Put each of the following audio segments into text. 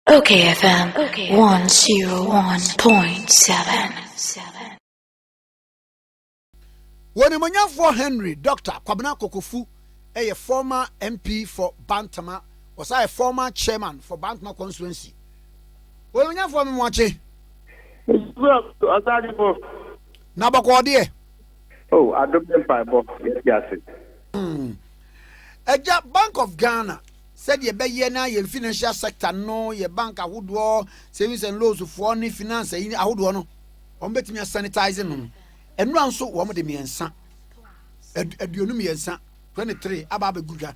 Okay FM 101.7 Wɔnimonyamfoɔ Henry Doctor Kwabena Kokofu yɛ former MP for Bantama, ɔsan yɛ former chairman for Bantama constituency. Wɔnimonyamfoɔ me moakye. Na bɔkɔɔ deɛ. Oh, adom ne mpaebɔ, yɛte ase. Agya Bank of Ghana. Sɛdeɛ ɛbɛyɛ na yɛn financial sector no, yɛn bank ahodoɔ, savings and loans foɔ ne finance ayi ahodoɔ no, wɔn bɛtumi a sanitize no no, nnura nso wɔn de mmiɛnsa, aduonu mmiɛnsa, 23, aba abɛgu dwa.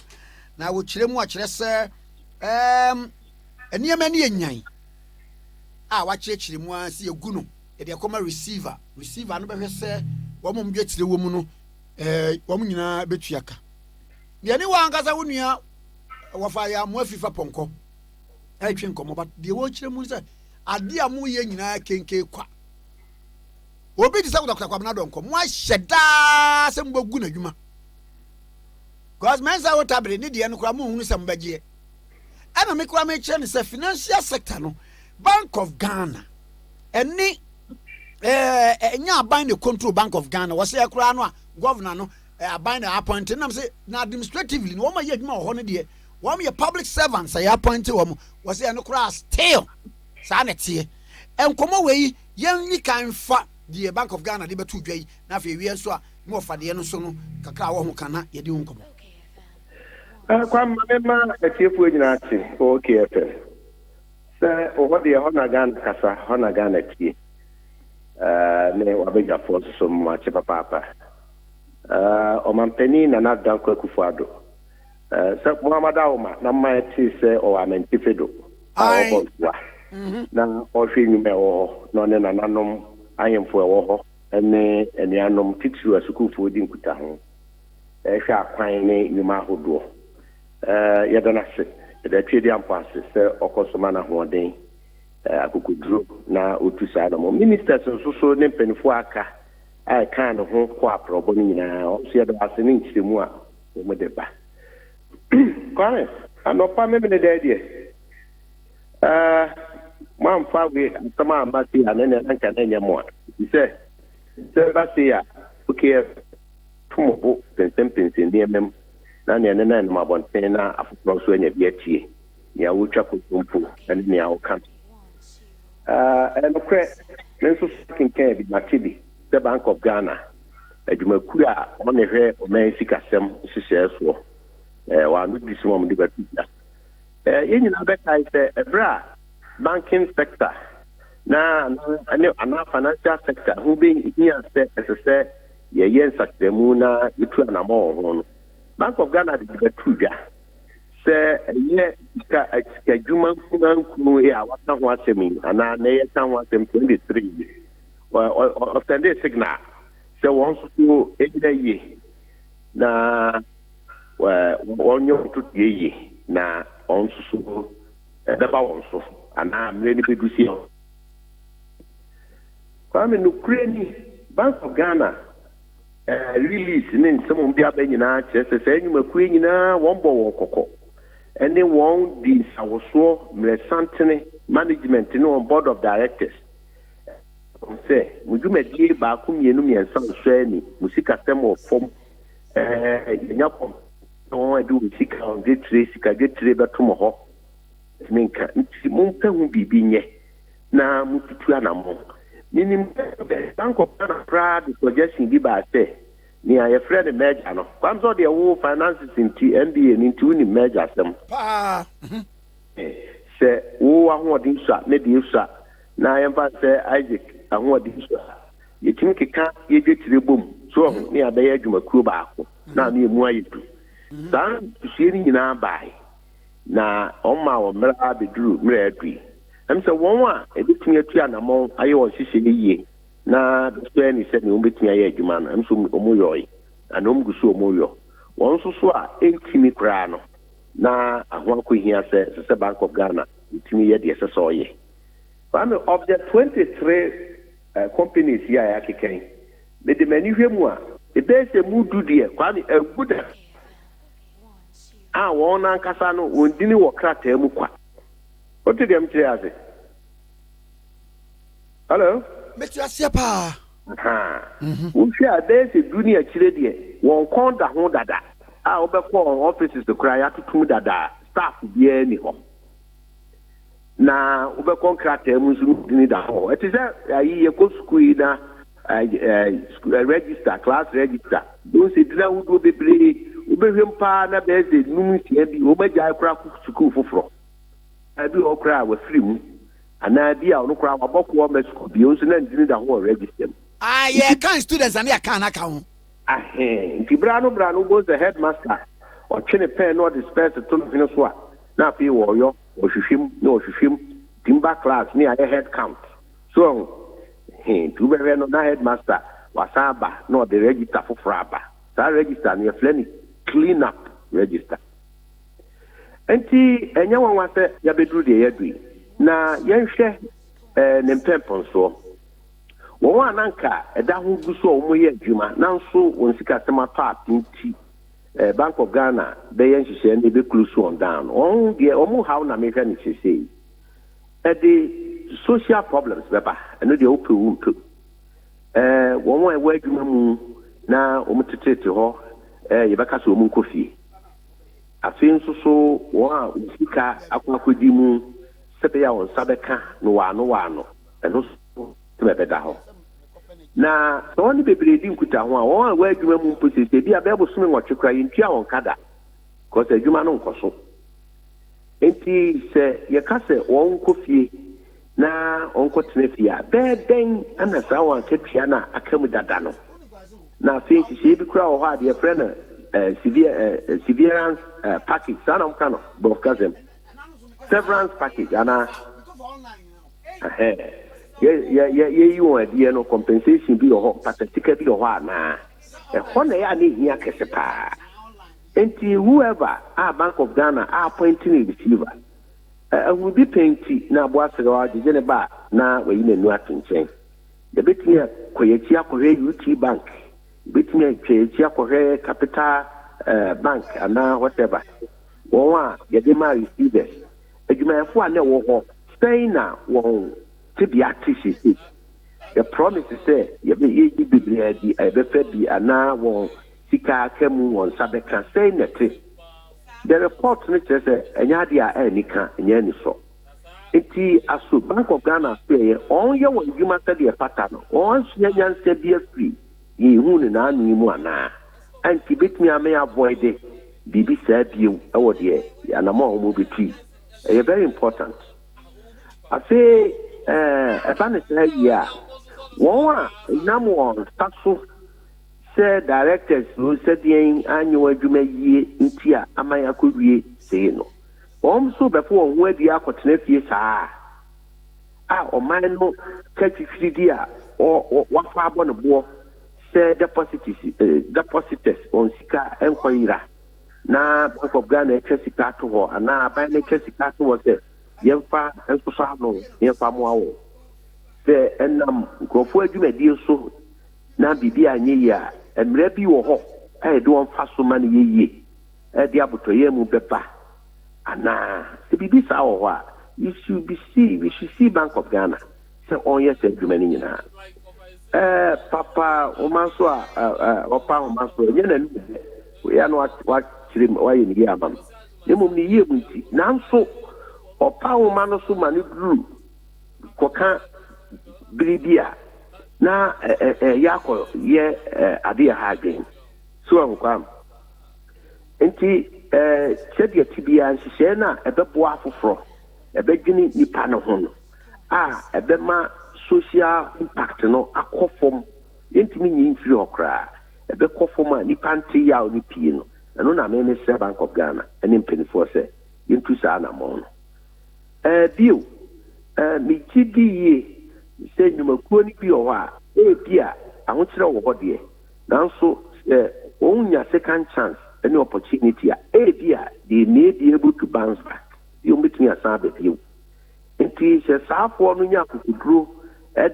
Na wɔkyerɛ mu akyerɛ sɛ um, nneɛma ne yɛ nyan a wakyerɛkyerɛ mu a sɛ yɛgu no yɛde ɛkɔma receiver receiver no bɛhwɛ sɛ wɔn a wɔdwa tire wɔ mu no eh, wɔn nyinaa bɛtua ka Deɛ ne w'ankasa wo nua wɔfa yɛ amoa fi fa pɔnkɔ ɛretwe nkɔmmɔ but deɛ wɔrekyerɛ mu sɛ adeɛ a moyɛ nyinaa kenke kwa obi te sɛ kotakuta kwamena dɔnkɔ mo ahyɛ daa sɛ mobɛgu n'adwuma because mɛnsa wo tabere ne deɛ no koraa mohunu sɛ mobɛgyeɛ ɛna me koraa mekyerɛ no sɛ financial sector no bank of ghana ɛne ɛnyɛ aban ne control bank of ghana wɔsɛ koraa no a governor no eh, aban na appoint nam sɛ na administratively na wɔn a yɛ adwuma wɔ hɔ no deɛ wɔn yɛ public servants a yɛ appoint wɔn wɔ sɛ ɛno koraa still saa na ɛteɛ nkɔmɔ wɔ yi yɛn ni kan fa deɛ bank of ghana de bɛto dwa yi na afei ewia nso a na wɔfa deɛ no so no kakra a wɔho kan na yɛde ho nkɔmɔ. Eh, kwamma ne ma atiefoɔ nyinaa te okfm sɛ ɔhɔ deɛ hɔ na ghana kasa hɔ na ghana tie eh, ne wabɛdwafoɔ nso so mmoakye papaapa Ɔmanpanin Nana Dankwa Akufo-Addo, sɛ Mohammed Awoma na mma yɛtee sɛ ɔwɔ Amantife do a ɔbɔ ntoa na ɔhwɛ nnwuma a ɛwɔ hɔ na ɔne nananom ahemfo a ɛwɔ hɔ ne anuanom titiriw asukuufo di nkutaho hwɛ akwan ne nnwuma ahodoɔ. Yɛda no ase, yɛda Tweaduampɔn ase sɛ ɔkɔ so ma no ahoɔden, akokoduro na ɔtu saa na mmom Ministers nso so ne mpaninfoɔ a aka a ɛkaa ne ho kɔ aprɔbo no nyinaa nso yɛda ase ne nkyerɛmu a wɔde ba. Kwame, anɔpa memene dɛ deɛ eh, moamfa wei asɛm a aba sei a na ɛnɛ anka na ɛnyɛ mo a, ɛfiri sɛ sɛ ɛba sei a OKF to mo bo pensenpensen nneɛma mu na neɛ ɛnɛ na ɛnam abɔnten na afoforɔ nso anya bi atie. nea wotwa kontompo ne nea ɔka no. Ɛyɛ nokorɛ, me nso so kenkan bi, mate bi sɛ Bank of Ghana, adwumakuo a wɔn na ɛhwɛ ɔman sikasɛm nhyehyɛɛ soɔ, wɔ ano di so ma wɔde bɛto dwa. Yɛn nyinaa bɛkae sɛ ɛberɛ a banking sector na ne anaa financial sector ho bɛhia sɛ ɛsɛ sɛ yɛyɛ nsakyerɛmu na yɛtu anamɔ wɔ ho no, Bank of Ghana de bɛto dwa. sɛ ɛyɛ sika sikadwuma nkunankunu yi a waka ho asɛm yi anaa na yɛka ho asɛm sɛ ɛde sere yi ɔsɛnde signal sɛ wɔn nso so ɛnyina yie na wɔnyɛ wɔn to deɛ yie na wɔn nso so ɛbɛba wɔn so anaa mmerɛ no bɛdu si Kwame nokorɛ ni Bank of Ghana Lilith ne nsɛm a wɔde aba nyinaa kyerɛ sɛ saa nnwumakuo yi nyinaa wɔbɔ wɔn kɔkɔ ne wɔn di nsawosoɔ mmerɛsantene management ne wɔn board of directors wɔn sɛ mo dwumadie baako mmienu mmiɛnsa nsɔ ani mo sikasɛm wɔ fam ɛɛ yɛnya kɔm na wɔn ɛde wɔn sika wɔn dwetire sika dwetire bɛto mo hɔ ɛtumi nka nti mompɛ ho biribi nyɛ na mututu anammɔn. Minim sɛ Bank of Ghana koraa de suggestion bi baa sɛ nea yɛfrɛ no merger no, Kwamsa ɔdeɛ wo finances nti, MBA no nti wonim merger asɛm. Paa. Mhm. Sɛ wo w'ahoɔden sua, me deɛ sua, na yɛmfa no sɛ Isaac ahoɔden sua a, yɛtumi keka yɛ dwetire bom, so wahu, ne yɛabɛyɛ adwumakuo baako, na ama ɛmu ayɛ du. Saa nsusuie no nyinaa baae. na wɔmaa wɔn mmara bɛduru mmerɛ adu yi. Ɛm sɛ wɔn a ɛbɛtumi atu anamɔn ayɛ wɔn nhyehyɛeɛ yie na bɛsɔ ani sɛ deɛ wɔbɛtumi ayɛ adwuma no, ɛm sɛ wɔyɔɔe anaa wɔn gu so a wɔyɔ. Wɔn nso so a ɛntumi koraa no, na ɛho akɔhia sɛ ɛsɛ sɛ Bank of Ghana tumi yɛ deɛ ɛsɛ sɛ ɔyɛ. Kwame, of the 23 companies yi a yɛakeka yi, mede m'ani hwɛ mu a, ɛbɛyɛ sɛ ɛmu du deɛ, Kwame, agu da. a wɔn ankasa no wɔn dini wɔ krataa mu kwa. Wote deɛ mekyerɛ yi ase? Hello? Mete aseɛ paa. Ahaa. Mhm. Wohwɛ a, ɛbɛyɛ sɛ du ne akyire deɛ, wɔn kɔn da ho dada a wobɛkɔ wɔn offices koraa, yɛatotom dada a, staff biara nni hɔ. na wobɛkɔ nkrataa mu nso ne din da hɔ. Ɛte sɛ ayi yɛkɔ sukuu yi na register class register wohu sɛ din ahodoɔ bebree wobɛhwɛm paa na bɛyɛ sɛ num nsia bi wɔn agyae koraa kɔ sukuu foforɔ bi wɔ koraa a wafiri mu anaa bi a ɔno koraa wabɔ koɔ ma sukuu bi nso na ndini da ho wɔ register mu. Ah, yɛ kan students na ne yɛ kan n'aka ho. Ahee, nti bra no bra no wobɛhu sɛ headmaster ɔtwe ne pɛn na ɔde spɛs to ne hwene so a na afei wɔɔyɔ. Wɔhwehwɛ mu na wɔhwehwɛ mu nti mba class ne ayɛ head count so woahu he nti wobɛhwɛ no na headmaster wasan aba na ɔde register foforɔ aba saa register no yɛfrɛ no clean up register nti ɛnyɛ nwanwa sɛ yɛabɛduru deɛ yɛadu yi na yɛnhwɛ eh, ne mpɛmpɛnsoɔ wɔn a nanka ɛda ho gu so a wɔyɛ adwuma nanso wɔn sikasɛm atɔ ape nti Eh, Bank of Ghana bɛyɛ nhyehyɛɛ no ɛbɛ close wɔn down. Wɔn deɛ wɔn haw na mehwɛ no sesei. Ɛde social problems bɛba, ɛno deɛ wopɛ wo mpɛ mu. Eh, wɔn a ɛwɔ adwuma mu na wɔn tetete hɔ, eh, yɛbɛka sɛ wɔn nkɔ fie. Afei nso so wɔn a wɔn sika akɔ akɔdi mu sɛbɛyɛ a wɔn nsa bɛka no waano waano, ɛno nso sɛ ɛbɛda hɔ. Na sɛ wɔne bebree di nkutaho a, wɔn a wɔ adwuma mu mpo seesei, ebia ɛbɛyɛ bosome nwɔtwe koraa, yɛntua wɔn ka da, because adwuma no nkɔ so. Enti sɛ yɛka sɛ wɔnkɔ fie na wɔnkɔtena fie a, bɛyɛ dɛn na saa wɔn akatua no a aka mu dada no? Na afei nhyehyɛe bi koraa wɔ hɔ a deɛ yɛfrɛ no eh, sever, eh, severance eh, package, saa na wɔka no borɔfo kasa mu, severance package anaa? Ɛhɛɛ. Yɛ, yɛ, yɛyi wɔn adiɛ no, compensation bi wɔ hɔ, mpatatika bi wɔ hɔ anaa? Ɛhɔ na ɛyɛ a na ehia kɛse paa. Enti whoever a Bank of Ghana a appoint no receiver, ɛ, ahunudi pɛ nti na aboa serew a gyegye ne ba a, na wayi n'anu ato nkyɛn. Yɛbɛtumi akɔ yɛn akyi akɔhwɛ UT Bank, yɛbɛtumi atwa yɛn akyi akɔhwɛ Capital, ɛ, Bank anaa whatever, wɔn a yɛde ma receivers. Adwumayɛfo a na ɛwɔ hɔ sɛn na wɔn tebea te seesei? Yɛprɔmise sɛ yɛbɛyɛ eyi bebree adi a yɛbɛfa bi anaa wɔn sika a aka mu wɔn nsa bɛka sɛn na ɛte. The report no kyerɛ sɛ ɛnyɛ ade a anni ka, ɛnyɛ anisɔ. Enti aso Bank of Ghana so ɛyɛ wɔn yɛ wɔn adwuma sɛdeɛ ɛfata no, wɔn ansua nyansa bi afiri Yɛnhuu no n'ano yi mu anaa? Ɛnti yɛbɛtumi ama yɛ avoide biribi saa biom wɔ deɛ anamɔn a wɔbɛtu yi. Ɛyɛ very important. Afei ɛba no saa wie a, wɔn a nam wɔn nsa so sɛ directors o sɛ deɛn anyɛ wɔn adwuma yie nti a ama yɛakɔwie sei no, wɔn nso bɛfo wɔn ho adua akɔtena fie saa a. a ɔman no kyɛ fifiri di a wɔafa abɔ no boɔ sɛ deposites, depositors, wɔn sika nkɔ yera na Bank of Ghana atwa sika ato hɔ anaa aban no atwa sika ato hɔ sɛ yɛmfa nsosɔ ano na yɛmfa mmoa wɔn. Sɛ ɛnam nkurɔfoɔ adwumadie so na biribi anyɛ yie a, mmara bi wɔ hɔ a yɛde wɔn fa so ma no yɛ yie. Ɛde abotɔyam mu bɛba anaa? Sɛ biribi saa wɔ hɔ a, you should be see, you should see Bank of Ghana sɛ ɔnyɛ saa adwuma no nyinaa. Ɛɛ papa homa nso a ɔpa homa nso ɛnyɛ n'ani yɛ dɛ. Wei ano wakyerɛ mu wayɛ ne yie ama no. Na mmom ne yie mu nti. Nanso ɔpa homa no so ma no duru kɔka bere bi a na ɛyɛ akɔ yɛ ade yɛ ha adwene. So ahu kwam. Enti, sɛdeɛ ɛte biara, nhyehyɛeɛ no a ɛbɛboa afoforɔ, ɛbɛdwene nnipa no ho no a ɛbɛma social impact no akɔ fam, yɛntumi nyi mfiri hɔ koraa, ɛbɛkɔ fam a nnipa nte yaw no pii no, ɛno na me mesrɛ Bank of Ghana ne mpanimfoɔ sɛ yɛntu saa anammɔn no. Bio, megye di yie sɛ nnwumakuo no bi wɔ hɔ a, ebia ahokyerɛ wɔ hɔ deɛ, Nanso sɛ wonnya second chance ne opportunity a, ebia they may be able to bounce back, ebia wɔbɛtumi asan aba bio. Nti sɛ saafoɔ no nya akokoduro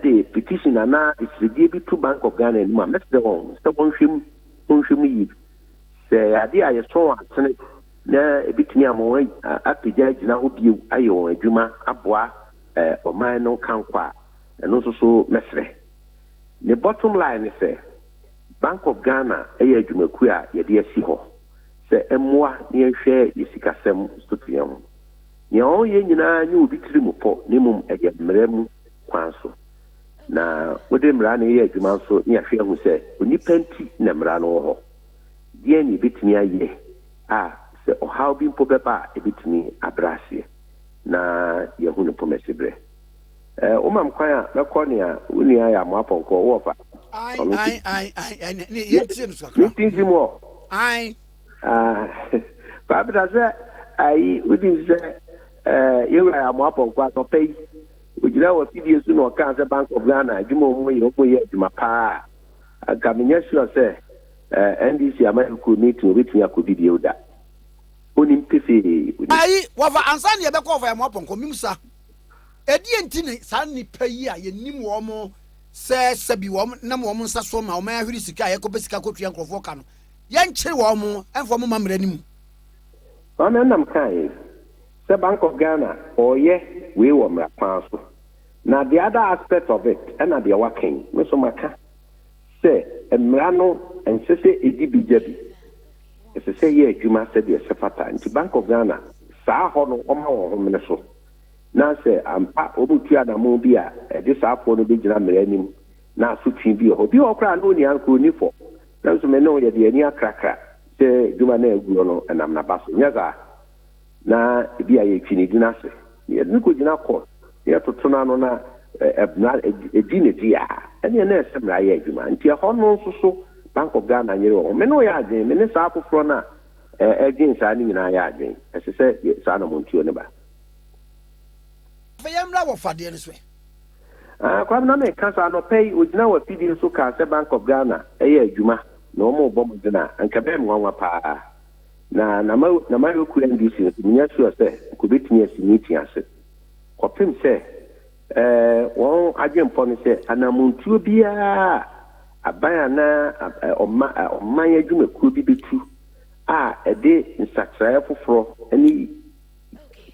de petition anaa asiridie bi to Bank of Ghana anim a, mɛsrɛ wɔn sɛ wɔnhwɛ mu, wɔnhwɛ mu yie. Sɛ ɛyɛ adeɛ a yɛsɔ wɔn asene na ɛbɛtumi ama wɔn apagya agyina hɔ bio ayɛ wɔn adwuma aboa ɔman no nkankɔ a, ɛno nso so mɛsrɛ. Ne bottom line ne sɛ, Bank of Ghana yɛ adwumakuo a yɛde asi hɔ sɛ ɛmmoa na yɛnhwɛ yɛn sikasɛm so to yɛn ho. Nea ɔreyɛ nyinaa nyɛ obi tirim pɔ na mmom ɛyɛ mmara mu kwan so. Na wode mmara na yɛyɛ adwuma nso na yɛahwɛ ahu sɛ onipa nti na mmara no wɔ hɔ. Deɛn na yɛbɛtumi ayɛ a sɛ ɔhaw bi mpo bɛba a ɛbɛtumi abrɛ aseɛ na yɛahu no pomasiberɛ? Eh, woma me kwan a mɛkɔ nea wo nua ayɛ amoa pɔnkɔ wɔ fa. Ae, Ɔno ae, ae, ae, ae, ne- ne- yɛntie no so kakra. ne tinti mu ɔ. Ae, Ah, Kwabena sɛ ayi wodi nsi sɛ eh, yɛwura yɛ amoa pɔnkɔ anɔpa yi. Ogyina wɔ afidie so na ɔkaa sɛ Bank of Ghana adwuma a wɔn yɛ wɔn yɛ adwuma paa. Anka menyɛ sure sɛ eh, NDC amanyɔkuo meeting obetumi akɔdi bio da. Onim pefee. Onim. ae, wɔfa ansa ne yɛbɛkɔ wɔfa yɛ amoa pɔnkɔ, mim sa. Ɛdeɛn nti na saa nnipa yi a yɛnim wɔn sɛ sɛbi wɔn nam wɔn nsa so ma wɔn ahwere sika a yɛkɔpɛ sika kɔtua nkurɔfoɔ ka no, yɛnkyere wɔn mfa wɔn mma mmara no mu? Saa na nam kaa yɛn sɛ Bank of Ghana ɔɔyɛ wei wɔ mmara kwan so. Na the other aspect of it ɛna deɛ waka yi me nso maka. sɛ mmara no ɛnsɛ sɛ ɛdi bi gya bi, ɛsɛ sɛ ɛyɛ adwuma sɛdeɛ ɛsɛ fata, nti Bank of Ghana saa hɔ no wɔma wɔn ho mene so na sɛ ampa wɔretu anamon bi a ɛde saa foɔ no bɛgyina mmara anim na asotwe bi wɔ hɔ, bi wɔ hɔ koraa na ɔnni ankorɛ, ɔnni fɔ, nanso me ne wo yɛde yɛn ani akrakra sɛ adwuma no a ɛguɔ no ɛnam n'aba so, nyɛ saa? na ebia yɛtwe ne din ase, na yɛde no kɔgyina kɔ, na yɛtoto no ano, na mmara di ne dea a, ɛnneɛ na ɛsɛ mmara yɛ adwuma. Nti ɛhɔ no nso so, Bank of Ghana nyere wɔn ho. Me ne wo yɛ adwene, me ne saa afoforɔ no a ɛredwene saa no nyinaa yɛ adwene. Ɛsɛ sɛ saa anammɔntuo no ba. Afei yɛmmra wɔ fadeɛ no so ɛ. Ah, Kwame, na meka saa, anɔpa yi, ɔgyinaa w'afidie so kaa sɛ Bank of Ghana yɛ adwuma, na wɔrebɔ mmɔden a, anka ɛbɛyɛ me nwanwa pa ara. Na na na m'ayɔkuo NDC nso menya sure sɛ nka obetumi asi meeting ase. Kɔpem sɛ ɛɛ wɔn adwenpɔ no sɛ anamɔntuo biara a aban anaa ɛɛ ɔma ɛɛ ɔman adwumakuo bi betu a ɛde nsakyeraɛ foforɔ ne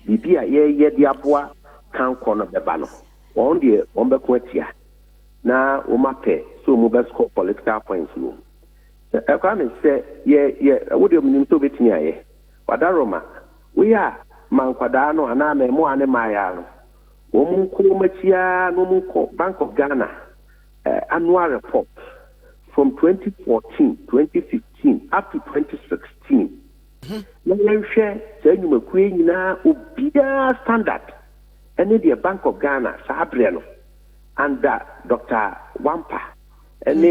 biribi a yɛyɛ de aboa kankɔ no bɛba no wɔn deɛ wɔn bɛko atia na wɔn apɛ sɛ wɔn bɛ score political points wɔ mu. Ɛ, Kwame, sɛ yɛ, yɛ, wo deɛ menim sɛ wobɛtumi ayɛ. Wadaworo ma, woyɛ a, ma nkwadaa no anaa mmaamua ne mmaayaa no, wɔn nkɔ wɔn akyi ara na wɔn nkɔ Bank of Ghana ɛ, annual report from 2014, 2015 up to 2016, na yɛnhwɛ saa nnwumakuo yi nyinaa obiara standard ɛne deɛ Bank of Ghana saa berɛ no under Doctor Wampah ɛne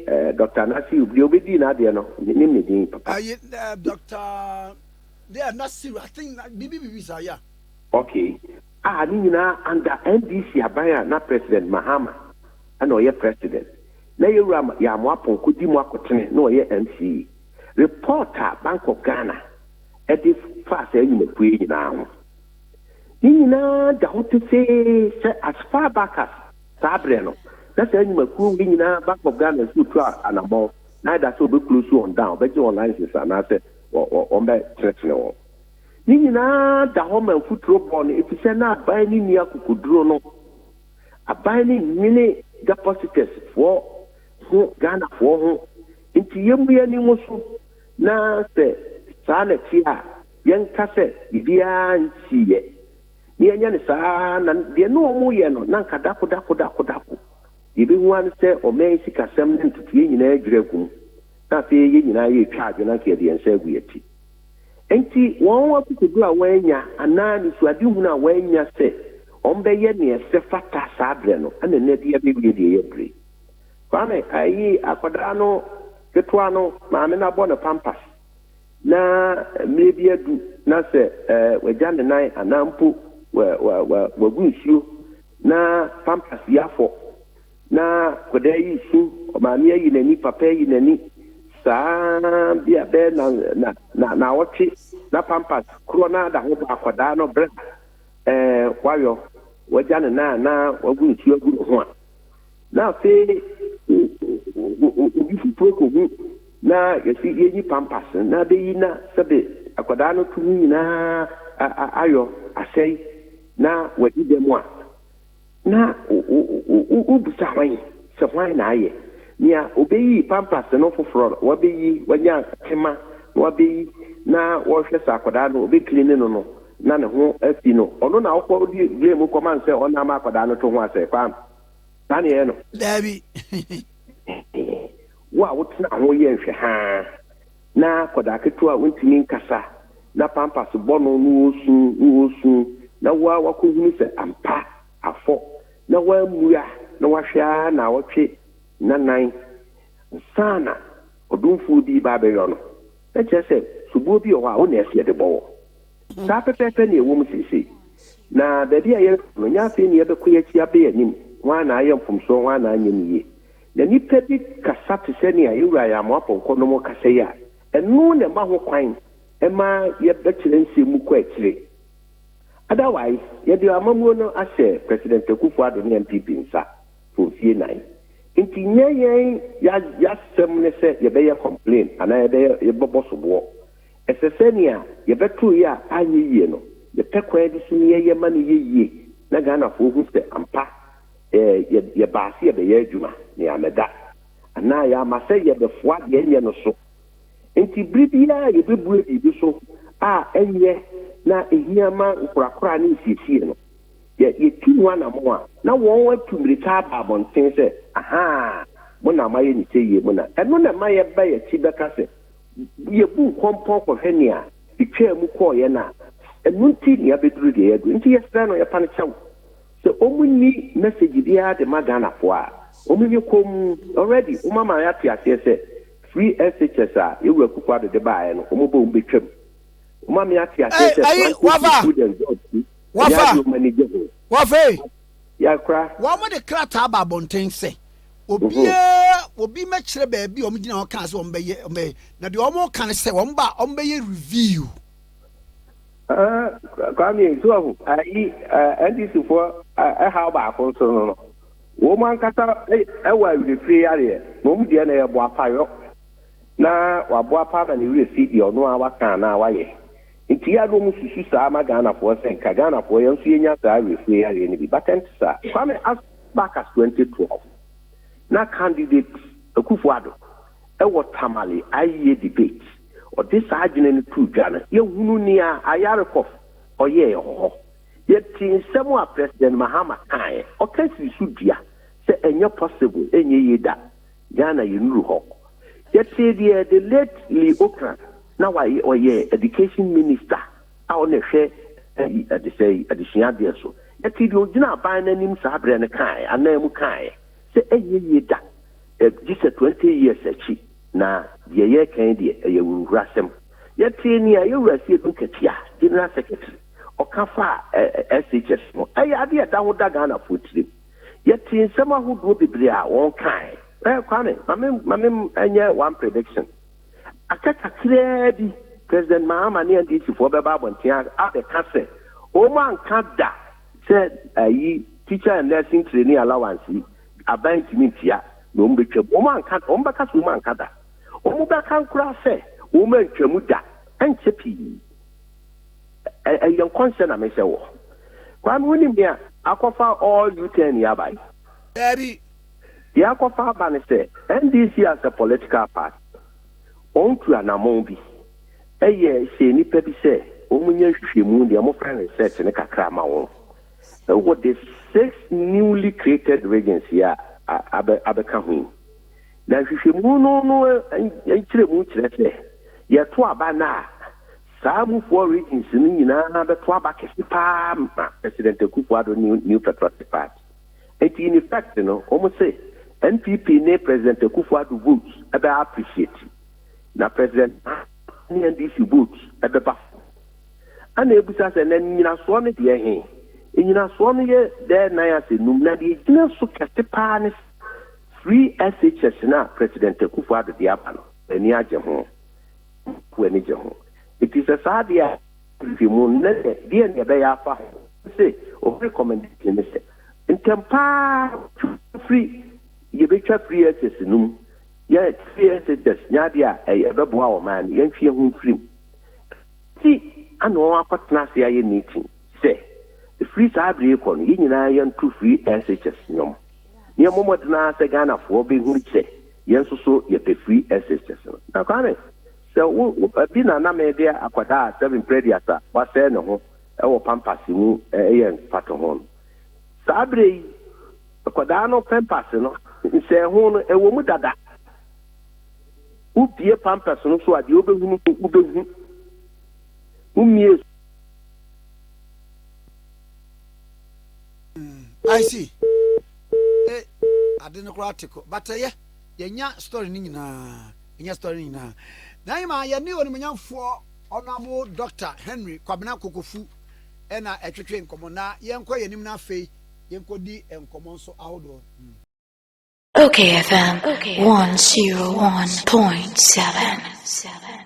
eh, dɔkta nasiru deɛ ɔbɛdii n'adeɛ no menim ne din papa Ayi, eh, Dr. Deɛ Nasiru, I think na- biribi biribi saa ya. okay a ne nyinaa under ndc aban a na president mahama ɛna ɔyɛ president na yɛwura Ma- yɛamo apɔn kɔdi mu akotene na ɔyɛ mce report a bank of ghana ɛde faa saa nyinapue yi nyinaa ho ne nyinaa da hɔ pefee sɛ as far back as Saa berɛ no, na saa nnwumakuo wei nyinaa Bank of Ghana nso retu anammɔn na ayɛ da sɛ wɔbɛ close wɔn down, bɛgye wɔn license anaasɛ wɔbɛ tenetene wɔn. Ne nyinaa da hɔ ma mfuturo bɔ no efisɛ na aban no nni akokoduro no. Aban no nnwene depositors foɔ ho, Ghana foɔ ho. Nti yɛmmu yɛn ani ngu so na sɛ saa na ɛteɛ a yɛnka sɛ biribiara nsiiɛ. na yɛanyɛ no saa ara a, na deɛ na wɔyɛ no, na anka dako dako dako dako. Deɛ yɛbɛhu ara ne sɛ, ɔman yi sikasɛm ne ntotoeɛ nyinaa adwiri agu mu, na afei yɛn nyinaa yɛretwa adwo na anka yɛde yɛn nsa agu yɛn ti. Enti wɔn akokoɔduro a wɔannya anaa anisoadehunu a wɔannya sɛ wɔbɛyɛ deɛ ɛsɛ fata saa berɛ no, ɛna ɛnnɛ de abɛwie deɛ ɛyɛ berɛ yi. Kwame, ayi akwadaa no ketewa no maame no abɔ no pampers. Na mmerɛ bi adu na sɛ wagya ne nan anaa mpo wagu nsuo na pampers yi afɔ na akwadaa yi resu, maame ayi n'ani, papa ayi n'ani, saa bi a bɛyɛ na na na na ɔtwe na pampers korɔ na ada ho ba akwadaa no berɛ a ɛɛ wayɔ wagya ne nan anaa wagu nsuo agu ne ho a. Na afei obi foforɔ kɔhu na yɛsi yɛyi pampas no na bɛyi na sɛbe akwadaa no to mu nyinaa ayɔ asɛe na wadi dɛm a, na wobisa hwan sɛ hwan na ayɛ? Nea ɔbɛyi pampas no foforɔ no, wabɛyi, wanya tema na wabɛyi na wɔhwɛ sɛ akwadaa no ɔbɛkline no no na ne ho afi no, ɔno na wokɔdi blame kɔma no sɛ ɔno na ama akwadaa no to ho asɛe, Kwame. saa na yɛyɛ no. Daabi. Wo a wotena ho yɛ nhwɛ haa na akwadaa ketewa a ontumi nkasa na pampers bɔ no na ɔresu na ɔresu na wo ara wakɔhunu sɛ ampa afɔ na wammua na wahwɛ ara nnawɔtwe nnanan ansa na ɔdomfoɔ bi reba abɛyɔ no, na kyerɛ sɛ soboɔ bi wɔ hɔ a wo na ɛsɛ yɛde bɔ wɔ. Saa pɛpɛɛpɛ na ɛwom seesei. Na baabi a yɛrekɔ no, nyɛ afei na yɛbɛkɔ, yɛn akyi abɛn anim, hwan na ayɛ mfomsoɔ, hwan na anyɛ no yie. Na nnipa bi kasa te sɛ nea yɛn wura yɛ amoa pɔnkɔ nom rekasa yi a, ɛno na ɛma ho kwan ma yɛbɛkyerɛ nsɛm mu kɔ akyire. Otherwise, yɛde amammuo no ahyɛ President Akuffo Addo ne NPP nsa for mfie nnan. Nti nyɛ yɛn, yɛasɛm ne sɛ yɛbɛyɛ complain anaa yɛbɛyɛ, yɛbɛbɔ soboɔ. Ɛsɛ sɛ nea yɛbɛtoo yɛ a anyɛ yie no, yɛpɛ kwan bi so na yɛyɛ ma no yɛ yie na Ghanafoɔ hu sɛ ampa yɛbaa sɛ yɛbɛyɛ adwuma na yɛammɛda anaa yɛamma sɛ yɛbɛfoa deɛ ɛnyɛ no so. Enti berɛ biara a yɛbɛbue biribi so a ɛnyɛ na ɛhia ma nkorakora ne nsiesie no, yɛtu ho anammɔn a, na wɔn atu mmirika aba abɔnten sɛ, Ahaa, mo na moayɛ no sɛyie, mo na. Ɛno na ɛma yɛba yɛn akyi bɛka sɛ, Yebu nkɔmpɔn kɔhwɛ nea etwaa mu kɔɔ yɛn a, ɛno nti na yɛabɛduru deɛ yɛaduru. Nti yɛsrɛ no, yɛpa no kyɛw sɛ wɔnyi message biara de ma Ghanafoɔ a, wɔnyɛ komm. Already wɔama yɛate aseɛ sɛ free SHS a Yawuru Akuffo Addo de baeɛ no, wɔbɔ wɔn bɛtwam. Wɔma me ate aseɛ sɛ planting food food and jobs nso, ɛnyɛ adeɛ a wɔn ani gye ho. Yɛakora. Wɔde krataa baa abɔnten sɛ, Obiara, obi mmɛkyerɛ baabi a wɔgyina hɔ kaa sɛ wɔbɛyɛ, wɔbɛyɛ. Na deɛ wɔka ne sɛ, wɔba a, wɔbɛyɛ review. Ah, Kwame, so ahu, ayi, NDC-foɔ ɛhaw baako nso no no, wɔn ankasa ɛwɔ awerɛfire yareɛ, na wɔn deɛ no yɛ boapayɔ, na waboapa ama ne werɛ fi deɛ ɔno ara waka anaa wayɛ. Nti yɛ a na wɔn susu saa ma Ghanafoɔ sɛ nka Ghanafoɔ yɛn nso yɛnya saa awerɛfie yareɛ no bi but ɛnte saa. Kwame as back as 2012 na candidate Akuffo Addo wɔ Tamale ayeyɛ debate ɔde saa adwene no too dwa no yɛ hunu nea Ayarikov ɔyɛɛ wɔ hɔ yɛ tee nsɛm a President Mahama kaeɛ ɔka sii so dua sɛ ɛnyɛ possible ɛnyɛ yie da Ghana yɛnnuru hɔ. Yɛtee deɛ the late Lee Ocran, na wayɛ, ɔyɛ Education Minister a ɔna ɛhwɛ adesɛe, adesua adeɛ so. Yɛtee deɛ ɔgyina aban no anim saa berɛ no kaeɛ, anan mu kaeɛ sɛ ɛnyɛ yie da, gye sɛ 20 years akyi, na deɛ yɛreka yi deɛ ɛyɛ awuruhurasɛm. Yɛtee nea yɛn Wura Asiedu Nketiah, General Secretary, ɔka faa SHS ho. Ɛyɛ adeɛ a ɛda ho da Ghanafoɔ tirim. Yɛtee nsɛm ahodoɔ bebree a wɔkae. Eh, Kwame, ma me, ma me nyɛ one prediction. Aka kakraa bi, President Mahama ne NDCfoɔ bɛba abɔnten a, abɛka sɛ, wɔn anka da sɛ ayi, teacher and nursing trainee allowance yi, aban ntumi ntua, na wɔn bɛtwam. Wɔn anka, wɔn bɛka sɛ wɔn anka da. Wɔn bɛka koraa sɛ, wɔn antwam da, ɛnkyɛ pii. Ɛ ɛyɛ nkɔnhyɛ na me hyɛ wɔ. Kwame wo nim nea akɔ fa all U turn yi aba yi? Daabi. Deɛ akɔ fa aba ne sɛ NDC as a political party wɔn tu anamɔn bi ɛyɛ hyɛ nnipa bi sɛ wɔn nyɛ nhwehwɛmu deɛ wɔn frɛ no research no kakra ma wɔn ɛwɔ the six newly created regions yi a abɛ abɛka ho yi. Na nhwehwɛmu no no nkyerɛmu kyerɛ sɛ yɛto aba no a Saa mufoɔ ratings no nyinaa bɛto aba kɛse paa ma President Akuffo Addo ne New Patriotic Party. Enti in effect no, wɔn se NPP ne President Akuffo Addo votes bɛ appreciate, na President Mahama ne NDC votes bɛba fam. Ɛna ɛbisa sɛ, na nnyinasoɔ no deɛ he? Nnyinasoɔ no yɛ dɛɛ nan asɛ num, na deɛ ɛgyina so kɛse paa ne sɛ, free SHS no a President Akuffo Addo de aba no, n'ani agye ho. Wo ani gye ho? Enti sɛ saa deɛ a, nhwehwɛmu no, na deɛ deɛn na yɛbɛyɛ afa ho? Ɛne sɛ, wɔn recommendation ne sɛ, ntɛm pa ara twa firi, yɛbɛtwa firi excess no mu, yɛ firi excess nyɛ adeɛ a ɛbɛboa ɔman no, yɛntwe yɛn ho mfiri mu. Enti ana wɔn akɔtena ase ayɛ meeting sɛ, ɛfiri saa berɛ yi rekɔ no, yɛn nyinaa yɛnto firi excess nnwom. Yɛmmɔ mmɔden ara sɛ Ghanafoɔ bɛhunu sɛ yɛn nso so yɛpɛ free SHS no. Na Kwame, sɛ wo, bi na na mede akwadaa a seven previous a wasɛe ne ho wɔ pampers mu yɛ mfatoho no. Saa berɛ yi, akwadaa no pampers no, nsɛeho no, ɛwɔ mu dada. Wobue pampers no so a, deɛ wobɛhunu no, wobɛhu. Wommie so. Mm, I see. Eh, ade no koraa te kɔ. But ɛyɛ, eh, yɛnya story no nyinaa. Yɛnya story no nyinaa. Na yɛma yɛne onimonyamfoɔ ɔnamo Dr. Henry Kwabena Kokofu ɛna ɛtwetwe nkɔmmɔ na yɛnkɔ yɛn anim no afei yɛnkɔdi nkɔmmɔ nso ahodoɔ. Mm. Okay FM 101.7